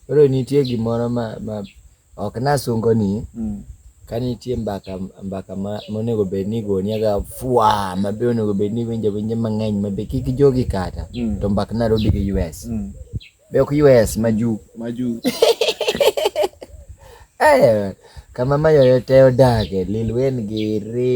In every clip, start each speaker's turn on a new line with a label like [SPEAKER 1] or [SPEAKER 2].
[SPEAKER 1] Koro nitie gimoro ma, ma ok nasungo ni mm. ka nitie mbaka mbaka ma monego bed ni igoni aga fwa ma be onego bed ni iwinjo winje mang'eny ma be kik jogi kata mm. to mbak Nairobi gi US mm. be ok US ma ju ma ju eh kama mayoyo te odage lil wen gi ri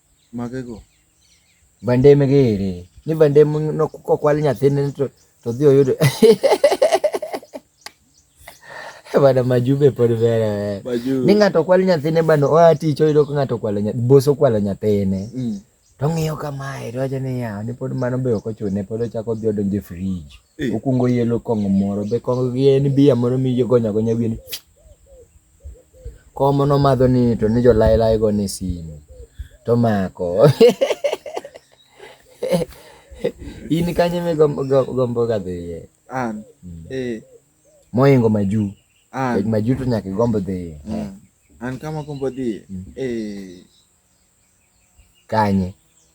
[SPEAKER 2] Magego.
[SPEAKER 1] Bandem gere. Ni bandem no kokwal nyathine to to dhi oyudo. Bana majube pod vera. Majube. Ni ng'ato kwal nyathine bano oa tich oyudo ko ng'ato kwalo nyathine. Boso kwalo nyathine. Mm. To ng'iyo kamae to wacho ni ya, ni pod mano be ok ochune pod ochako dhi odonje fridge. Okuongo yelo kong'o moro be kong'o gi en bia moro migonyo agonya wiye ni komo nomadho ni to ni jo lai lai go ni simu to mako in kanye me gombo ga dhiye an mm.
[SPEAKER 2] eh
[SPEAKER 1] moingo maju an maju to nyaka gombo dhiye mm. an kama
[SPEAKER 2] gombo dhiye mm. eh
[SPEAKER 1] kanye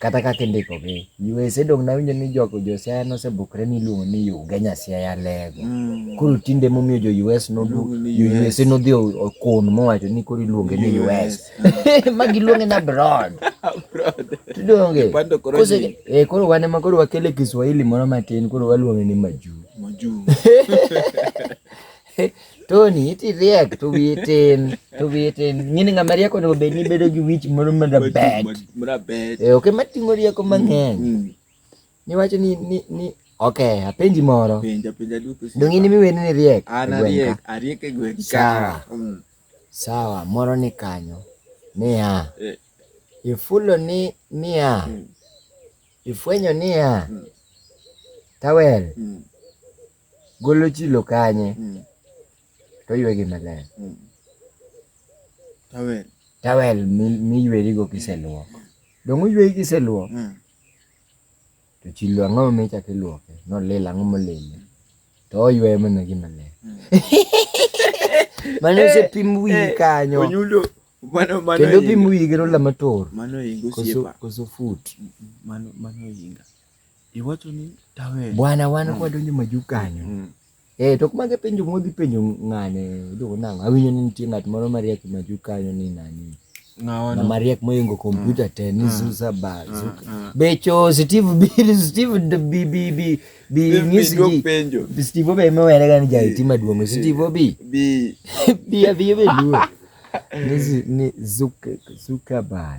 [SPEAKER 1] kata kaka indikogi USA dong nawinjo ni jogo josiaya nosebukre ni iluongo ni Ugenya Siaya Lego mm. koro tinde emomiyo jo US nodu USA nodhi okun mowacho ni koro iluonge ni US ma giluonge na abroad tudonge eh, koro wan ema koro wakele Kiswahili moro matin koro waluonge ni majuu Tony, iti riek to wiyi tin, to wiyi tin. Ng'ini ng'ama riek onego bed ni bedo gi wich moro marabet. Marabet. Eh, ok ema ting'o rieko mang'eny. Mm, mm. Niwacho ni ni ni ok, apenji moro. Penja penja duto.
[SPEAKER 2] Dong in miweni ni
[SPEAKER 1] riek. An ariek, ariek e
[SPEAKER 2] gweng' ka. Sawa. Mm.
[SPEAKER 1] Sawa, moro ni kanyo. Niya. Eh. Ifulo ni niya. Ifwenyo niya. Tawel. golo chilo kanye mm. to ywegi maler mm. tawel tawel miywerigo kiseluok donge oyweyi kiseluok mm. to chilo ang'o michako iluoke nolil ang'o molile to oyweyo mana gi maler mm. mane osepim eh, wiyi eh, kanyo
[SPEAKER 2] kendo
[SPEAKER 1] pim wiyi gi rola mator
[SPEAKER 2] koso fut
[SPEAKER 1] mm, mm, mano
[SPEAKER 2] yinga Iwacho ni tawe. Bwana wan mm. kwadonjo
[SPEAKER 1] maju kanyo. Mm. Eh, tok mage penjo modhi penjo ng'ane iluongo nang'o? Awinjo ni nitie ng'at moro mariek maju kanyo ni nani? na mariek moingo kompyuta mm. te ni mm. zuza ba mm. zuka becho steve bill steve bi bi bi bi ngisi bi steve be me were gani jai ti maduong steve bi bi bi abi be duo ni zuka zuka ba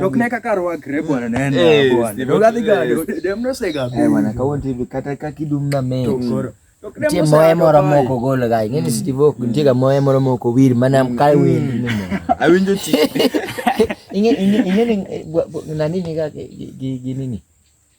[SPEAKER 1] Tokne kaka rwakre
[SPEAKER 3] bwana neno eh, bwana. Dogadhi gado. Eh, dem no sega. Eh bwana kawon TV kata
[SPEAKER 1] ka kidum na me. Nitie moye moro moko gol ga. Ng'e ni hmm. Steve ok nitie ga moye moro moko wir mana hmm. ka wir. Hmm. Awinjo ti.
[SPEAKER 2] Ing'e
[SPEAKER 1] ing'e ing'e nani ni ga gi gi nini?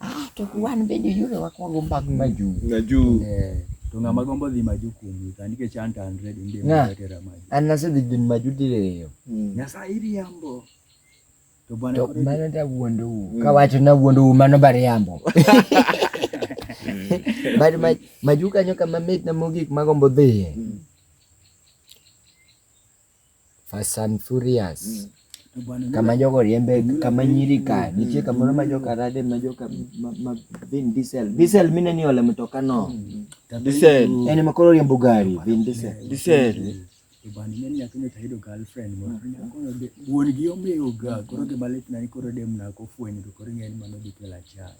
[SPEAKER 3] Ah, to wan
[SPEAKER 1] bende yore wakwongo mag maju. Maju. Eh,
[SPEAKER 3] to ng'ama gombo dhi maju kuom ka nikech an to an ready ndi matera maju.
[SPEAKER 1] An nasedhi
[SPEAKER 3] dhi maju
[SPEAKER 1] diriyo. Hmm.
[SPEAKER 3] Nyasaye
[SPEAKER 1] iriambo. To
[SPEAKER 3] bwana to mano da wuondo
[SPEAKER 1] u. Hmm. Kawacho na wuondo u mano bariambo. Bado maju kanyo kama mit na mogik magombo dhiye. Hmm. Fast and Furious. Mm. Kama jogo riembe kama nyiri ka nitie kamoro ma joka rade ma joka ma, ma Vin Diesel. Diesel mine ni ole mtoka no. Mm. Diesel.
[SPEAKER 2] Ene makoro riembo
[SPEAKER 1] gari
[SPEAKER 3] Vin Diesel. Diesel.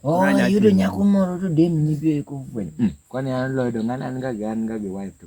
[SPEAKER 3] Oh, yudo nyako
[SPEAKER 1] moro to dem ni bi ko fwenyo. Mm. Kwani an lodo ngana an ga an ga gi wife to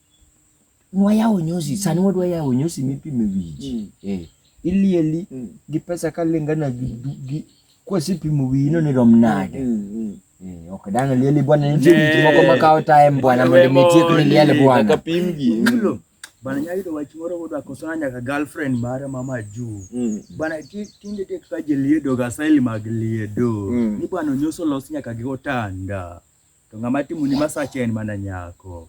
[SPEAKER 1] Nwayawo nyosi, sani wadwa yawo nyosi mipime wich. Mm. Eh, ilieli mm. gi pesa kalingana gi, gi kwasipimo wiyi no ni rom nade. Mm. mm, mm. Eh, ok dang' lieli bwana, nitie wich moko makawo time bwana mondo mi tiek ni liel bwana. Kapimgi. Mm.
[SPEAKER 2] Bana
[SPEAKER 3] nyayudo wach moro kodwa kosana nyaka girlfriend mare mama juu. Mm. Bana tinde tek ka jeliedo ga style mag liedo. Mm. Ni bwana onyoso los nyaka gi otanda. To ng'ama timoni masache en mana nyako.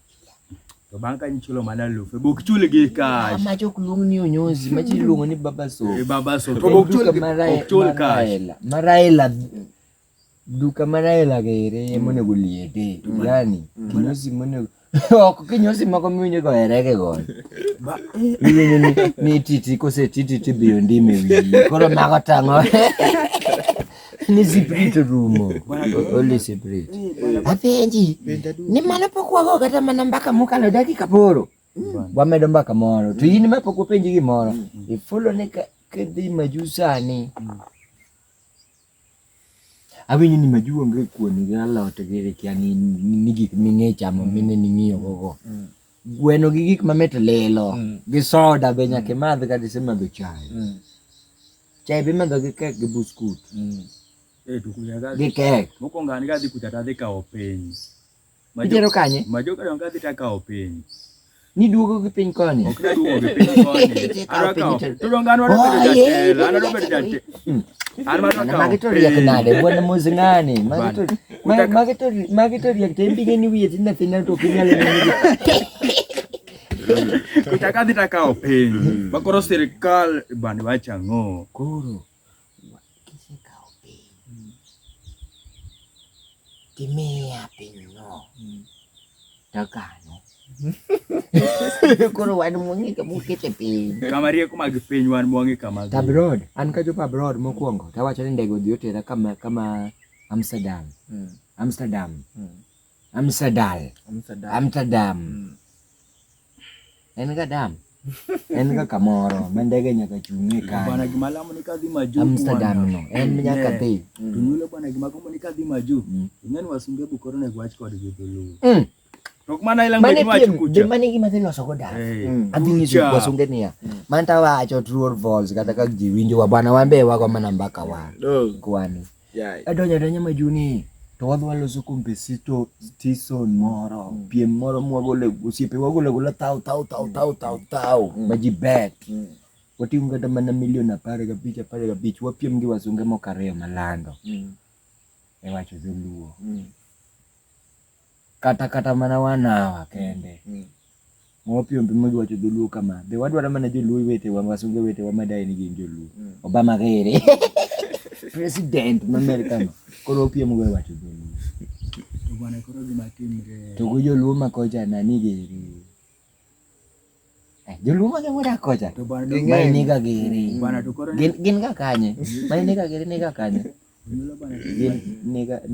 [SPEAKER 3] To bang' ka nichulo mana lufe, bok chul gi cash. Ma jok luong ni
[SPEAKER 1] onyozi, ma ji luongo ni baba so. E baba so. To bok chul
[SPEAKER 3] gi bok chul cash. Maraela.
[SPEAKER 1] Duka maraela gere mm. monego liete. Mm. Yani, mm. kinyozi monego ok kinyosi moko miwinjo go erege go iwinjo ni ni titi kose titi tibiyo ndimi wiyi koro mago tang'o ni siprit rumo oli siprit apenji ni mano pok wago kata mana mbaka mokalo dakika poro wamedo mbaka moro to in ma pok wapenji gimoro ifulo ni ka- kidhi maju sani Awinjo ni magi onge kuon gi alot gi ikia ni ni gik ming'e chamo mine ning'iyo gogo. Gweno gi gik mamit lilo, gi soda be nyaka imadh kata isemadho chai. Chai be imadho gi kek gi buskut.
[SPEAKER 3] Gi kek.
[SPEAKER 1] Mokwongo an kadhi kucha
[SPEAKER 3] tadhi kawo piny. Itero
[SPEAKER 1] kanye? Majoka donka dhi takawo
[SPEAKER 3] piny. Niduogo
[SPEAKER 1] gi piny koni. Ok naduogo gi piny
[SPEAKER 3] koni. Adwa kawo. To donka an wadwa bedo jatelo, an wadwa bedo jatelo. Hmm. An wadwa kawo.
[SPEAKER 1] Magi to riek nade, bwana Mozi ng'ani. Magi to magi to magi to riek to imbige ni wiye tin nyathi na to ok inyal neno.
[SPEAKER 3] Kutaka dhi takawo piny. Makoro hmm. sirikal bani wacha ng'o. Koro.
[SPEAKER 1] kisekawo piny mm. kimiya pinyno mm. takano koro wan mwang'e kama ukete piny kama rieko mag piny
[SPEAKER 3] wan mwang'e kama abroad an kachopo
[SPEAKER 1] abroad mokwongo tawacho ni ndege odhi otera kama kama amsterdam mm. amsterdam mm. amsterdam amsterdam mm. en ga dam en ga kamoro ma ndege nyaka chung'e ka bana gima lamo ni kadhi
[SPEAKER 3] maju Amsterdam no en
[SPEAKER 1] nyaka dhi to nyulo bana gima
[SPEAKER 3] gombo ni kadhi maju mm. ing'en wasunge bukoro ne gwach kod gi dholuo mm. Tok mana ila ngwe ni wacho kucha. Mane gima dhi loso goda.
[SPEAKER 1] Mm. Adhi nyiso wasunge niya. Manta wacho true or false kata ka ji winjo wa bana wan be wago mana mbaka wa. Kwani. Adonyo adanya majuni to wadhi waloso kompesito tison moro mm. piem moro mwagole osiepe wagole gola tao tao tao tao mm. tao tao mm. maji bet mm. wating'o kata mana milion apar gabich apar gabich wapiem gi wasunge moko ariyo malando mm. e wacho dholuo mm. kata kata mana one hour kende mm. mopiombi mogiwacho dholuo kama be wadwaro mana joluo wetewa wasunge wetewa madaye ni gin joluo mm. obama gere president ma America no koro opiem go wacho dholuo to bwana
[SPEAKER 3] koro gima timre to go joluo ma
[SPEAKER 1] kocha nani gere Eh, joluo mage modak kocha mainega
[SPEAKER 3] giri
[SPEAKER 1] gin
[SPEAKER 3] ga kanye
[SPEAKER 1] mainega giri nega kanye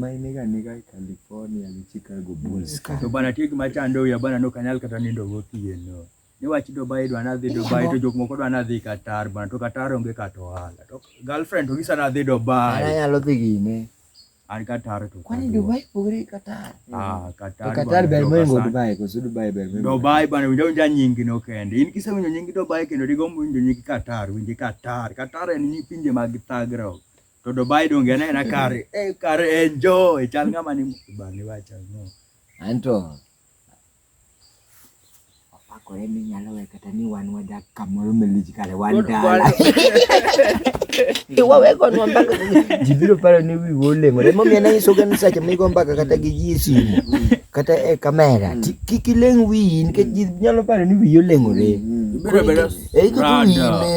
[SPEAKER 1] mainega nega california gi chicago bulls ka to bana tiek
[SPEAKER 3] machando ya bana no kanyal kata nindo gotieno niwach dubai dwa nadhi dubai to jok moko dwa nadhi katar bana to katar onge kata ohala to girlfriend to gisa nadhi dubai anyalo dhi gine
[SPEAKER 1] ari katari
[SPEAKER 3] to kwani dubai pogre
[SPEAKER 1] katari ah katari katari
[SPEAKER 3] ber mengo dubai
[SPEAKER 1] ko su dubai ber mengo dubai bana winjo winja
[SPEAKER 3] nyingi no kende in kise winjo nyingi dubai kendo digo winjo nyingi katari winjo katari katari en ni pinje mag thagro to dubai donge na na kare eh kare enjoy chal ngama ni bani wacha no anto
[SPEAKER 1] Opakore ni nyalo we kata ni wan wadak kamoro malich kare wan dala. Iwawegonwa mbaka. Ji biro paro ni wiwa oleng'ore. Emomiyo nanyisoga ni seche migo mbaka kata gi ji e simu kata e kamera ti- kik ileng' wiyi nikech ji nyalo paro ni wiyi oleng'ore. Ibiro bedo E iketo rada.
[SPEAKER 3] wiyi
[SPEAKER 1] ne.